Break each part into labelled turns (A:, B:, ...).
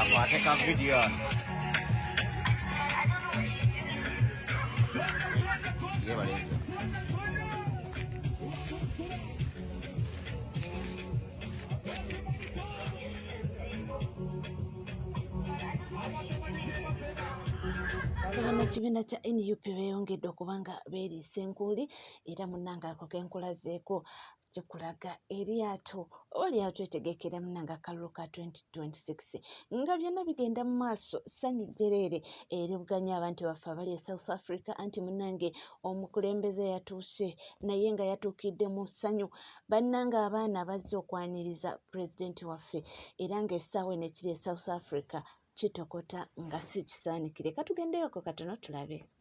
A: Akwate ka video. Abana
B: kibiina kya nup beeyongedde okuba nga beeriisa enkuuli era munnange ako ke nkulazeeko kikulaga eryato oba lyato etegekera munnange akalulu ka 2026 nga byonna bigenda mu maaso ssanyu jjereere eribuganya abantu baffe abali e south africa anti munnange omukulembeze yatuuse naye nga yatuukidde mu ssanyu bannange abaana bazze okwaniriza pulezidenti waffe era ng'essaawa eno ekiri e south africa kitokota nga si kisaanikire katugendeyoko katono tulabe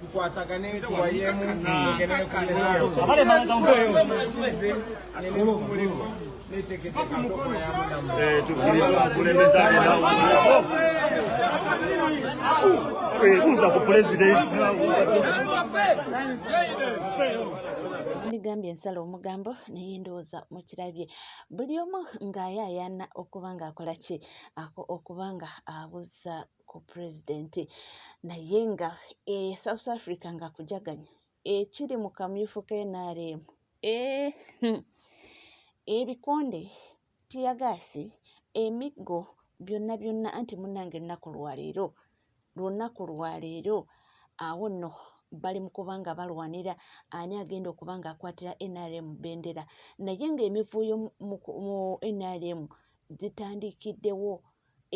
C: tukwatagane tuwayemu
D: tugendere ku byemuliko netegeteeka ebuuza ku pulezidenti
B: ndigambye ensala omugambo naye ndowooza mukirabye buli omu ng'ayaayaana okuba ng'akola ki okuba nga abuuza ku president naye nga e south africa nga kujaganya ekiri mu kamyufu ka nrm eh, hmm. ebikonde tiyagaasi emiggo byonna byonna anti munange ennaku lwaleero lunaku lwaleero awo nno bali mu kuba nga balwanira ani agenda okuba nga akwatira nrm bendera naye ng'emivuuyo mu nrm zitandikiddewo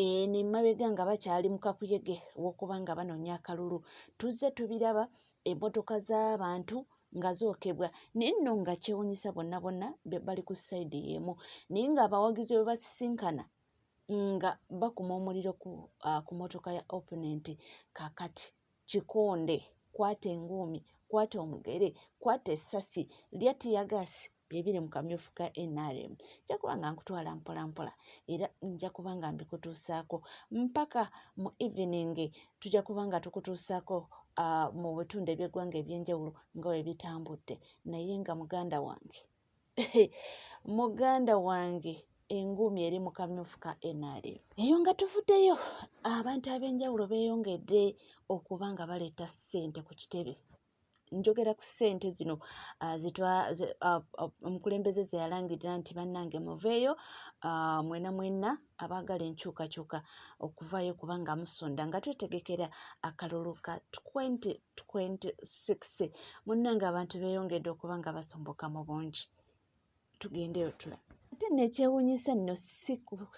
B: eno emabega nga bakyali mu kakuyege wokuba nga banoonya akalulu tuzze tubiraba emmotoka z'abantu nga zookebwa naye nno nga kyewunyisa bonna bonna bali ku sayidi y'emu naye ng'abawagizi bwe basisinkana nga bakuma omuliro ku uh, motoka ya opponent kakati kikonde kwata enguumi kwata omugere kwata essasi lya tiyagaasi byebiri mu kamyufu ka nrm nja kuba nga nkutwala mpolampola era nja kuba nga mbikutuusaako mpaka mu evening tujja kuba nga tukutuusaako uh, mu bitundu eby'eggwanga eby'enjawulo nga webitambudde naye nga muganda wange muganda wange enguumi eri mu kamyufu ka nrm eyo nga tuvuddeyo abantu ab'enjawulo beeyongedde okuba nga baleeta ssente ku kitebe njogera ku ssente zino ah, ah, ah, omukulembeze ze yalangirira nti bannange muveeyo mwena mwena abaagala enkyukakyuka okuvaayo kubanga musonda nga twetegekera akalulu ka 20 26 munnange abantu beeyongedde okuba nga basomboka mu bungi tugendeyo tula ate nekyewunyisa nno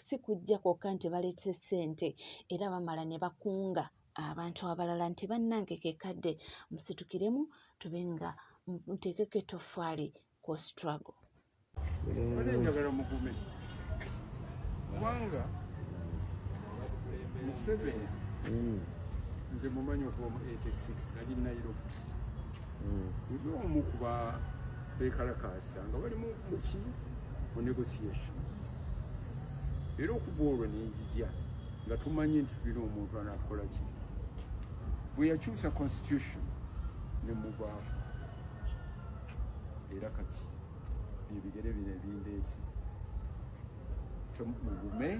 B: si kujja kwokka nti baleese ssente era bamala ne bakunga abantu abalala nti bannange kekadde musitukiremu tube nga muteekeko etoffaali ku struggle Wale
C: njagala mugume kubanga Museveni mm. nze mumanyi okuva mu 86 nali Nairobi mm. nze omu kuba bekalakaasa nga bali muki mu negotiations era okuva olwo nenjija nga tumanyi nti tulina omuntu anakola ki bwe yakyusa constitution ne mubaafu era kati ebigere bino ebindeesi mugume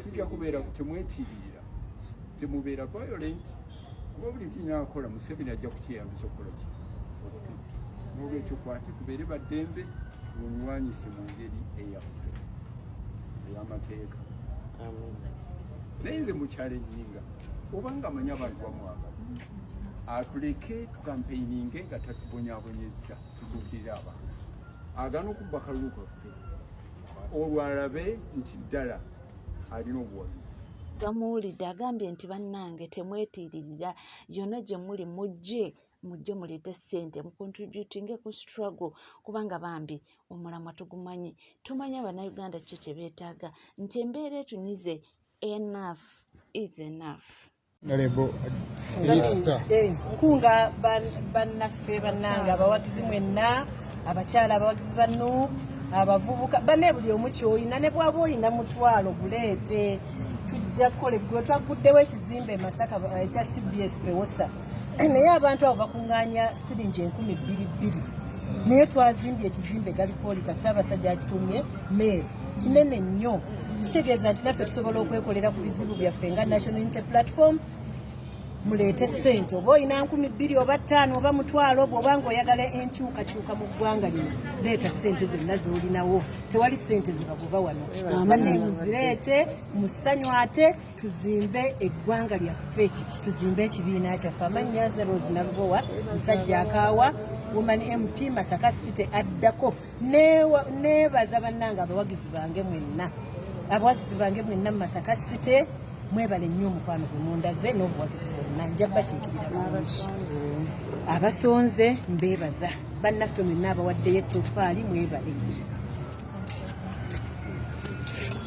C: tujja kubeera temwetiiriira temubeera violent kuba buli kinakola museveni ajja kukyeyambisa okukola ki nolwekyo kwate kubeere baddembe mulwanyise mu ngeri eyaffe eyamateeka naye nze mukyalenyinga obanga amanyi abantu bamwagala atuleke kampeininge nga tatubonyabonyezza tutuukirira abantu agana okubba akalulu kaffe olwo alabe nti ddala alina obuwagizi gamuwulidde
B: agambye nti bannange temwetiiririra yonna gye muli mujje mujje muleete ssente mucontributinge ku struggle kubanga bambi omulamwa tugumanyi tumanyi abanauganda kye kye beetaaga nti embeera etunyize enough is enough
A: nkunga bannaffe bannange abawagizi mwenna abakyala abawagizi ba nup abavubuka bane buli omu kyoyina ne bwaba oyina mutwalo guleete tujja kukola eggulu twagguddewo ekizimbe masaka eh, ekya cbs pewosa naye abantu abo bakunganya siringi enkumi bbiri bbiri naye twazimbye ekizimbe galipoolika ssaabasajja akitumye meeri kinene nnyo kitegeeza nti naffe tusobola okwekolera ku bizibu byaffe nga national unity platform muleete sente oba olina nkumi bbiri oba ttaano oba mutwalo bwoba nga oyagala enkyukakyuka mu ggwanga lino leeta sente zonna zolinawo tewali sente zibagoba wano bane muzireete musanyu ate tuzimbe eggwanga lyaffe tuzimbe ekibiina kyaffe amannya zerozi nalubowa musajja akaawa woman mp masaka city addako nebaza bannange abawagizi bange mwenna abawagizi bange mwenna mu masaka site mwebale nnyo omukwano gwe mundaze n'obuwagizi bwonna nja bakiikirira bulungi abasonze mbebaza bannaffe mwenna abawaddeyo ettofaali mwebale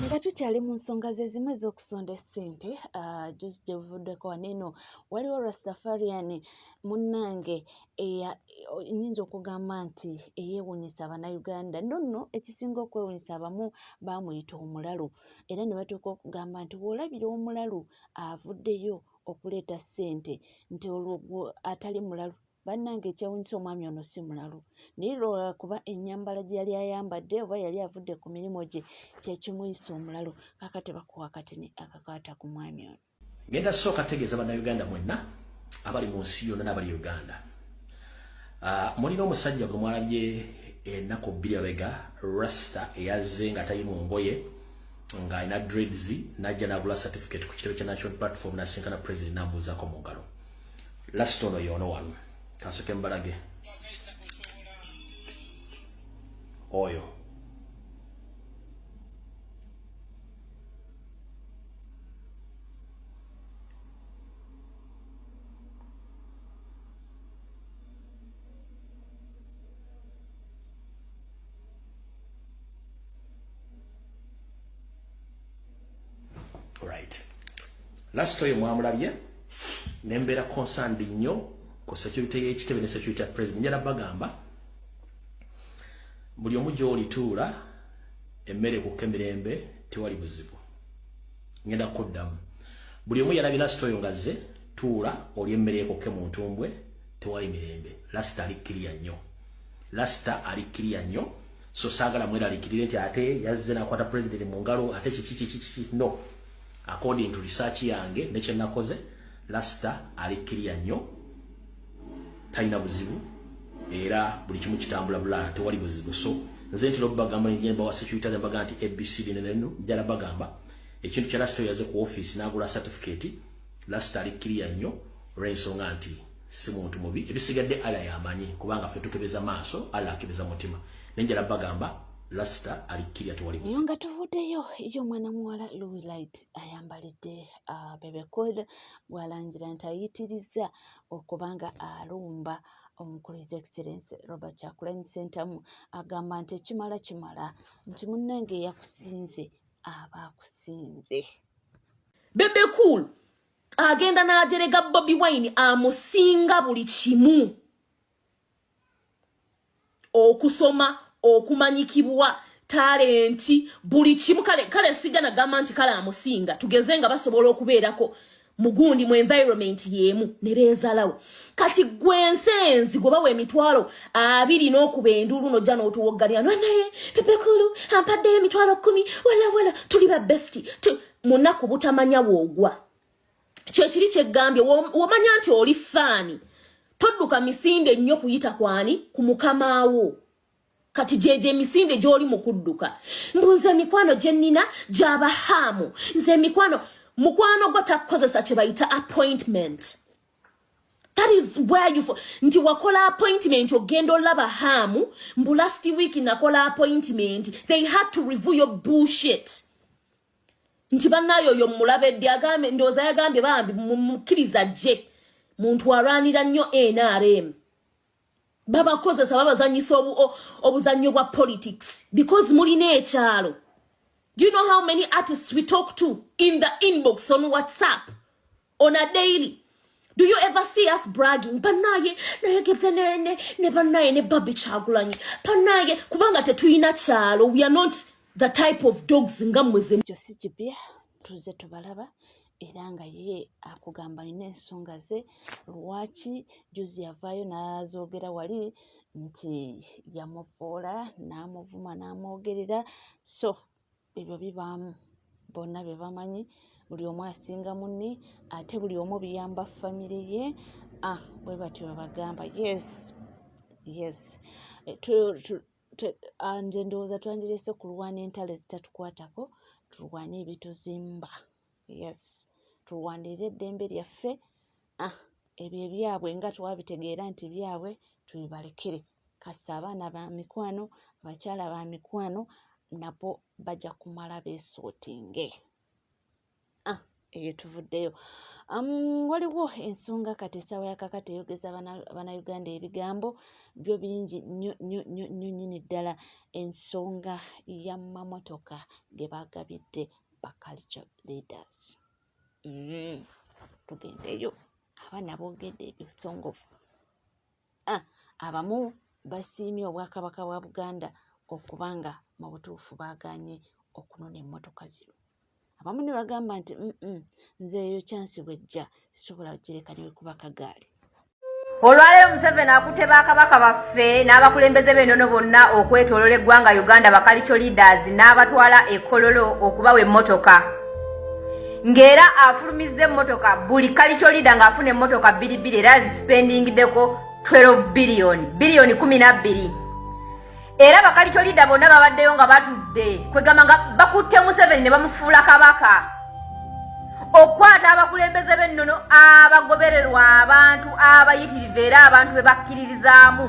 B: nga tukyali mu nsonga ze zimu ez'okusonda essente ah, juzi gye buvuddeko waneeno waliwo rastafarian munnange nyinza okugamba nti eyewunyisa banauganda no no ekisinga okwewunyisa abamu bamuyita omulalu era ne batuuka okugamba nti wolabira omulalu avuddeyo okuleeta ssente nti olwo atali mulalu bannange ekyewunyisa omwami ono si mulalu naye lwakuba enyambala gye yali ayambadde oba yali avudde ku mirimu gye kyekimuyisa omulalu kakati bakuwa katini akakwata ku mwami ono Ngenda sooka tegeeza
E: bannayuganda mwenna abali mu nsi yonna n'abali Uganda. Uh, mulina omusajja gwe mwalabye ennaku eh, bbiri abega rasta eyazze nga tali mu ngoye ng'alina dreads n'ajja n'agula certificate ku kitebe kya national platform n'asinkana president n'amubuuzaako mu ngalo. Last ono yoono wano kansoke mbalage oyo last oyo mwamulabye nembeera concerned nnyo ku security y'ekitebe ne security ya president njala bagamba buli omu gy'olituula emmere kukka emirembe tewali buzibu ngenda kuddamu buli omu yalabi lasita oyo ngazze tuula oli emmere ekokke mu ntumbwe tewali mirembe lasita ali kiriya nnyo lasita ali kiriya nnyo so saagala mweralikirire nti ate yazze nakwata pulezidenti mu ngalo ate kiki kiki kiki no according to research yange nekyenakoze lasita ali kiriya nnyo talina buzibu era buli kimu kitambula bulala tewali buzibu so nze ntera okubagamba njemba wa security ne bagamba nti abc bino neno njala bagamba ekintu kya last yaze ku office n'agula certificate last ali kiriya nnyo olw'ensonga nti si muntu mubi ebisigadde ala yamanyi kubanga ffe tukebeza maaso ala akebeza mutima naye njala bagamba lasita alikkirya tewali yo nga tuvuddeyo
B: yo omwana muwala louis light ayambalidde uh, bebecoil bwalangira nti ayitirizza okuba nga alumba omukulu his excellence robert kyakulany sentamu agamba nti ekimala kimala nti munnange eyakusinze aba akusinze
F: bebe cool agenda n'ajerega bobi wine amusinga buli kimu okusoma okumanyikibwa talenti buli kimu kale kale sigana gamba nti kale amusinga tugeze nga basobola okubeerako mugundi mu environment yemu ne beezalawo kati gwe ensenzi gwe bawa emitwalo abiri n'okuba enduulu nojja n'otuwoggalira nanaye pepekulu ampaddeyo emitwalo kkumi walawala tuli ba besti mu nnaku butamanya woogwa kyekiri kyeggambye womanya nti oli faani todduka misinde nnyo kuyita kwani ku mukamaawo kati gyegyo emisinde gy'oli mu kudduka mbu nze emikwano gye nnina gyaba haamu nze emikwano mukwano gwo takukozesa kye bayita appointment that is where you nti wakola appointment ogenda olaba haamu mbu last week nakola appointment they had to review your bullshit nti banaye oyo mulabedde agambe ndooza yagambye bambi mumukiriza jje muntu alwanira nnyo nrm babakozesa babazanyisa obuzannyo bwa politics because mulina ekyalo do you know how many artists we talk to in the inbox on whatsapp on a daily do you ever see us bragging banaye naye ketenene ne banaye ne babi kyagulanyi banaye kubanga tetuyina kyalo we are not the type of dogs nga mweze ekyo si kipya
B: tuze tubalaba era nga ye akugamba alina ensonga ze lwaki juzi yavaayo n'azoogera wali nti yamuvoola n'amuvuma n'amwogerera so ebyo bibaamu bonna be bamanyi buli omu asinga munne ate buli omu biyamba famire ye ah, bwe batyo babagamba yes yes eh, ah, nze ndowooza twandilese kulwana entalo ezitatukwatako tulwane ebituzimba yes tulwanirire eddembe lyaffe ah, ebyo ebyabwe nga twabitegeera nti byabwe tubibalekere kasita abaana ba mikwano abakyala ba mikwano nabo bajja kumala beesootinge ah, eyo tuvuddeyo um, waliwo ensonga kati esaawa yakakati eyogeza banauganda ebigambo byo bingi nyo nyini ddala ensonga ya mamotoka ge bagabidde ba culture leaders mm. tugendeyo abaana boogedde ebisongovu ah, abamu basiimye obwakabaka bwa buganda okuba nga mu butuufu baaganye okunona emmotoka zino abamu ne bagamba nti nze eyo kyansi bwejja sisobola gireka newekuba kagaali olwaleero
G: museveni akutte bakabaka baffe n'abakulembeze b'enono bonna okwetolola eggwanga uganda bakalico leaders n'abatwala ekololo okubawa emmotoka ng'era afulumizza emmotoka buli kalico leada ng'afuna emmotoka bbiri bbiri era zisipendingideko 12 biliyoni biliyoni kumi na bbiri era bakalicolida bonna babaddeyo nga batudde kwegamba nga bakutte museveni ne bamufuula kabaka okukwata abakulembeze b'ennono abagobererwa abantu abayitirivu era abantu be bakkiririzaamu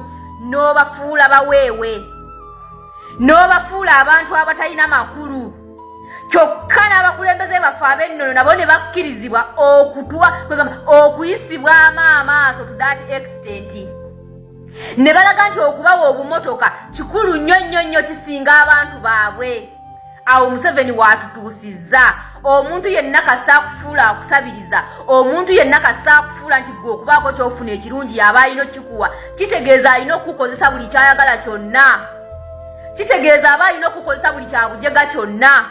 G: n'obafuula baweewe n'obafuula abantu abatalina makulu kyokka n'abakulembeze baffe ab'ennono nabo ne bakkirizibwa okutwa kwegamba okuyisibwamu amaaso to that extent ne balaga nti okubawa obumotoka kikulu nnyo nnyo nnyo kisinga abantu baabwe awo museveni waatutuusizza omuntu yenna kasa akufuula akusabiriza omuntu yenna kasa akufuula nti gwe okubaako kyofuna ekirungi yaba alina okikuwa kitegeeza alina okukukozesa buli kyayagala kyonna kitegeeza aba alina okukukozesa buli kyabujega kyonna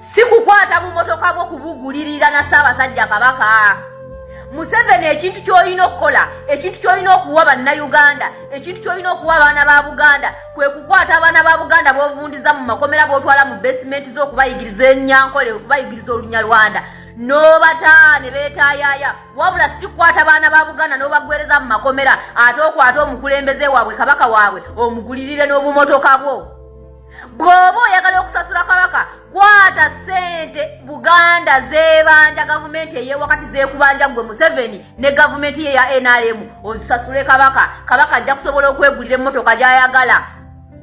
G: si kukwata bumotoka bwo kubugulirira na ssaabasajja kabaka museveni ekintu kyolina okukola ekintu kyolina okuwa bannayuganda ekintu kyolina okuwa abaana ba buganda kwe kukwata abaana ba buganda bovundiza mu makomera botwala mu basementi zo okubayigiriza enyankole okubayigiriza olunyarwanda nobataa ne betayaya wabula sikwata baana ba buganda nobagwereza mu makomera ate okwata omukulembeze waabwe kabaka waabwe omugulirire n'obumotoka bwo bw'oba oyagala okusasula kabaka kwata ssente buganda zebanja gavumenti eyewakati zekubanja gwe museveni ne gavumenti ye ya nrm ozisasule kabaka kabaka ajja kusobola okwegulira emmotoka gyayagala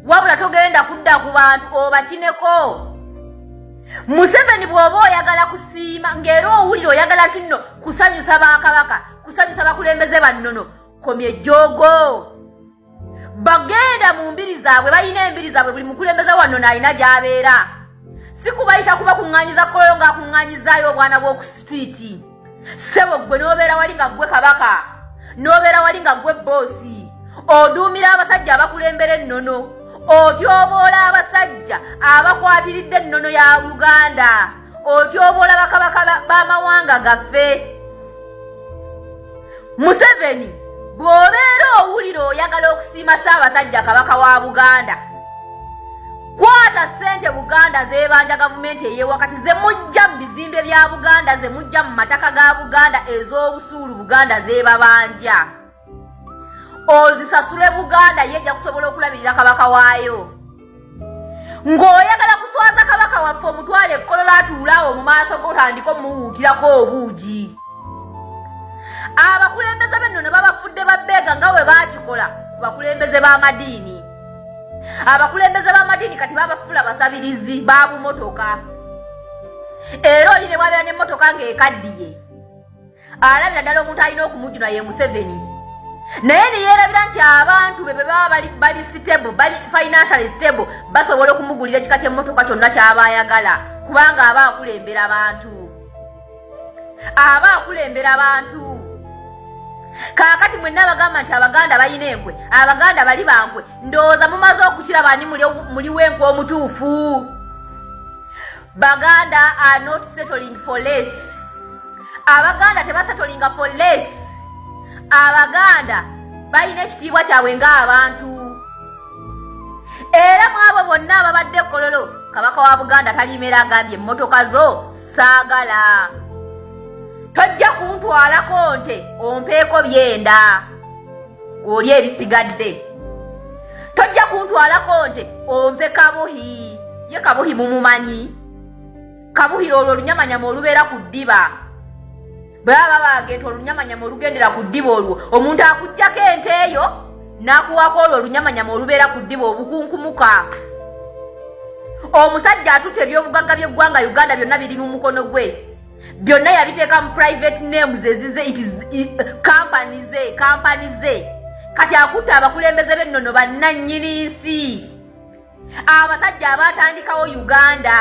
G: wabula togenda kudda ku bantu obakineko museveni bw'oba oyagala kusiima ng'era owulire oyagala nti nno kusanyusa bakabaka kusanyusa bakulembeze bannono komye joogo bagenda mu mbiri zaabwe balina embiri zaabwe buli mukulembeza wanno naalina gyabeera sikubayita kuba kuŋŋanyiza koloyo ng'akuŋŋanyizaayo obwana bw'oku situiti ssebo ggwe n'obeera wali nga ggwe kabaka n'obeera wali nga ggwe bboosi oduumira abasajja abakulembera ennono otyoboola abasajja abakwatiridde ennono ya uganda otyoboola bakabaka b'amawanga gaffe museveni bw'obeera owulira oyagala okusiima ssaabasajja kabaka wa buganda kwata ssente buganda zebanja gavumenti eyewakati zemujja mu bizimbe bya buganda zemujja mu mataka ga buganda ez'obusuulu buganda zebabanja ozisasule buganda ye ejja kusobola okulabirira kabaka waayo ng'oyagala kuswaza kabaka waffe omutwale ekkolola atuulaawo mu maaso gotandika omuwuutirako obuugi abakulembeze benno ne babafudde babbeega nga we baakikola ku bakulembeze b'amadiini abakulembeze b'amadiini kati babafuula basabirizi ba bumotoka era oli ne bwabeera n'emmotoka ng'ekaddiye alabira ddala omuntu alina okumujjuna ye museveni naye neyerabira nti abantu be bebaba bali stable bali financial stable basobola okumugulira ekika kyemmotoka kyonna kyaba ayagala kubanga aba akulembera abantu aba akulembera abantu kaakati mwenna abagamba nti abaganda balina enkwe abaganda bali bankwe ndowooza mumaze okukiraba ani muli wenkwe omutuufu baganda are not settling for less abaganda tebasetolinga for less abaganda balina ekitiibwa kyabwe ngaabantu era mwabo bonna ababadde kololo kabaka wa buganda talimera agambye emmotoka zo saagala tojja kuntwalako nte ompeeko byenda oli ebisigadde tojja kuntwalako nte ompe kabuhi ye kabuhi mumumanyi kabuhira olwo olunyamanyama olubeera ku ddiba bwe baba baga nti olunyamanyama olugendera ku ddiba olwo omuntu akuggyako ente eyo n'akuwako olwo olunyamanyama olubeera ku ddiba obukunkumuka omusajja atutte ebyobugagga by'eggwanga uganda byonna biri mu mukono gwe byonna yabiteeka mu private names ezize kampani ze kampani ze kati akutte abakulembeze b'ennono bannannyini nsi abasajja abaatandikawo uganda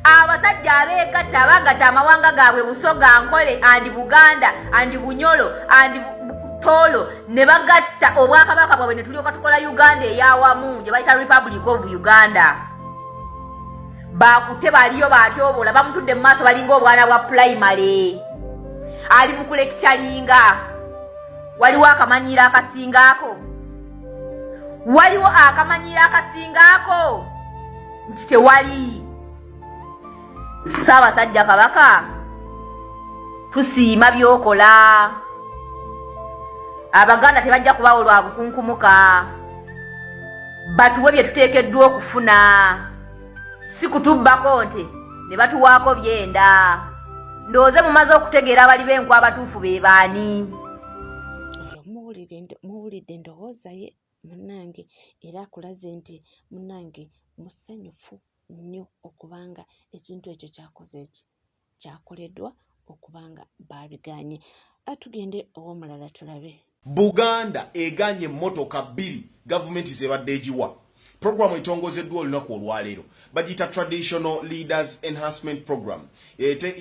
G: abasajja abeegatta abagatta amawanga gaabwe busoga nkole andi buganda andi bunyolo andi toolo ne bagatta obwakabaka bwabwe ne tulyoka tukola uganda eyawamu gye bayita republic of uganda baakute baliyo baatyobola bamutudde mu maaso balinga obwana bwa pulayimale ali mu kulekikyalinga waliwo akamanyiiro akasingaako waliwo akamanyiiro akasingaako nti tewali ssaabasajja kabaka tusiima byokola abaganda tebajja kubawo lwa bukunkumuka batuwe bye tuteekeddwa okufuna si kutubbako nti ne batuwaako byenda ndowooze mumaze okutegeera abali b'enkwa abatuufu be baani
B: muwulidde endowooza ye munange era akulaze nti munange musanyufu nnyo okubanga ekintu ekyo kyakoze eki kyakoleddwa okuba nga baabiganye atugende ow'omulala tulabe buganda
H: eganye emmotoka bbiri gavumenti zebadde egiwa Programu etongozeddwa olunaku olwaleero bagiyita Traditional Leaders Enhancement Program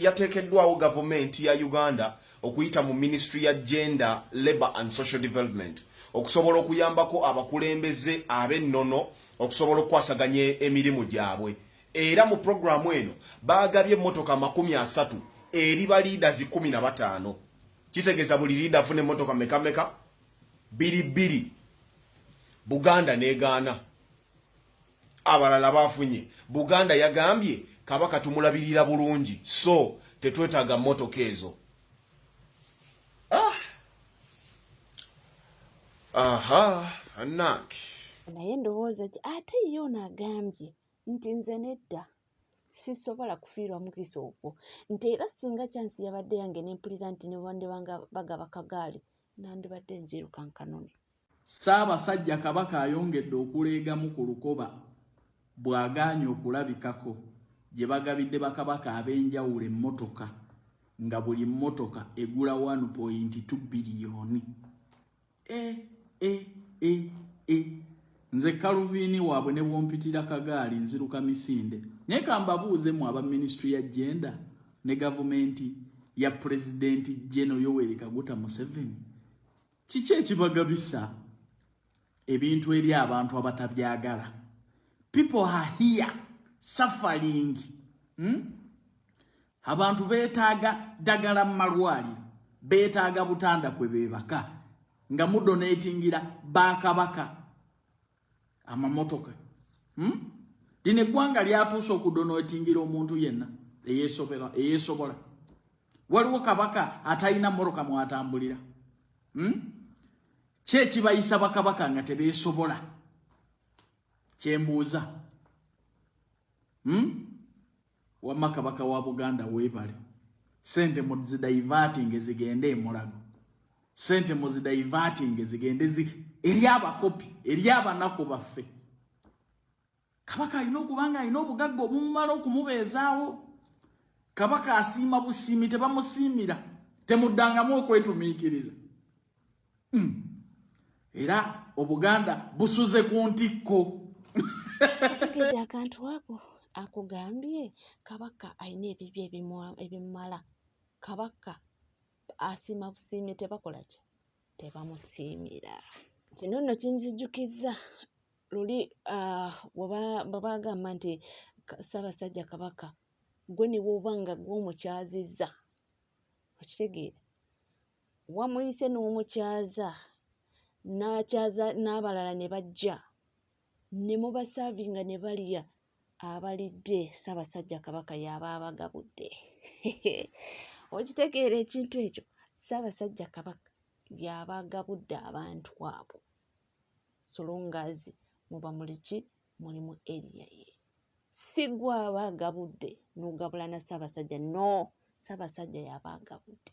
H: yateekeddwawo gavumenti ya Uganda okuyita mu minisitule ya Gender, Labour and Social Development okusobola okuyambako abakulembeze ab'ennono okusobola okukwasaganya emirimu gyabwe era mu programu eno baagabye emmotoka makumi asatu eri ba leaders kumi na bataano kitegeeza buli leader afuna emmotoka mekameka biri bbiri buganda negaana abalala bafunye buganda yagambye kabaka tumulabirira bulungi so tetwetaaga mmotoka ezo ah. aha anaki naye ndowooza
B: ati ate ye ono agambye nti nze nedda sisobola kufiirwa mukisa ogwo nti era singa kyansi yabadde yange nempulira nti nebandibanga bagaba kagaali nandibadde nziruka nkanone ssaabasajja
I: kabaka ayongedde okuleegamu ku lukoba bw'agaanye okulabikako gye bagabidde bakabaka ab'enjawulo emmotoka nga buli mmotoka egula 1.2 biliyoni e, e, e, e. nze kaluviini waabwe ne bwompitira kagaali nziruka misinde naye kambabuuze mu aba minisitule ya jenda ne gavumenti ya pulezidenti jeno yoweri kaguta museveni kiki ekibagabisa ebintu eri abantu abatabyagala people are here suffering hmm? Abantu beetaaga ddagala mu malwaliro, beetaaga butanda kwe beebaka nga mudoneetingira ba kabaka amamotoka hmm? lino eggwanga lyatuuse okudoneetingira omuntu yenna eyeesobola. Waliwo kabaka atalina moroka mwatambulira hmm? ki ekibayisa bakabaka nga tebeesobola kyembuuza hmm? wamma kabaka wa buganda weebale sente muzidaivatinge zigende emulago sente muzidaivatinge zigende eri abakopi eri abanaku baffe kabaka alina okuba nga alina obugagga obumumala okumubeezaawo kabaka asiima busiimi tebamusiimira temuddangamu okwetumiikiriza mm. era obuganda busuze ku ntikko
B: ategedde akantu ako akugambye kabaka alina ebibyo ebimumala kabaka asiima busiimi tebakola ki tebamusiimira kino nno kinzijjukizza luli ah, bwe bagamba nti ssaabasajja kabaka gwe ne bwoba nga gw'omukyazizza okitegeera wamuyise n'omukyaza n'akyaza n'abalala ne bajja ne mubasaavinga ne balya abalidde ssaabasajja kabaka yaaba abagabudde okitegeera ekintu ekyo ssaabasajja kabaka yaaba agabudde abantu abo solongazi muba muliki muli mu eriya ye si gwe aba agabudde n'ogabula na ssaabasajja no ssaabasajja yaaba agabudde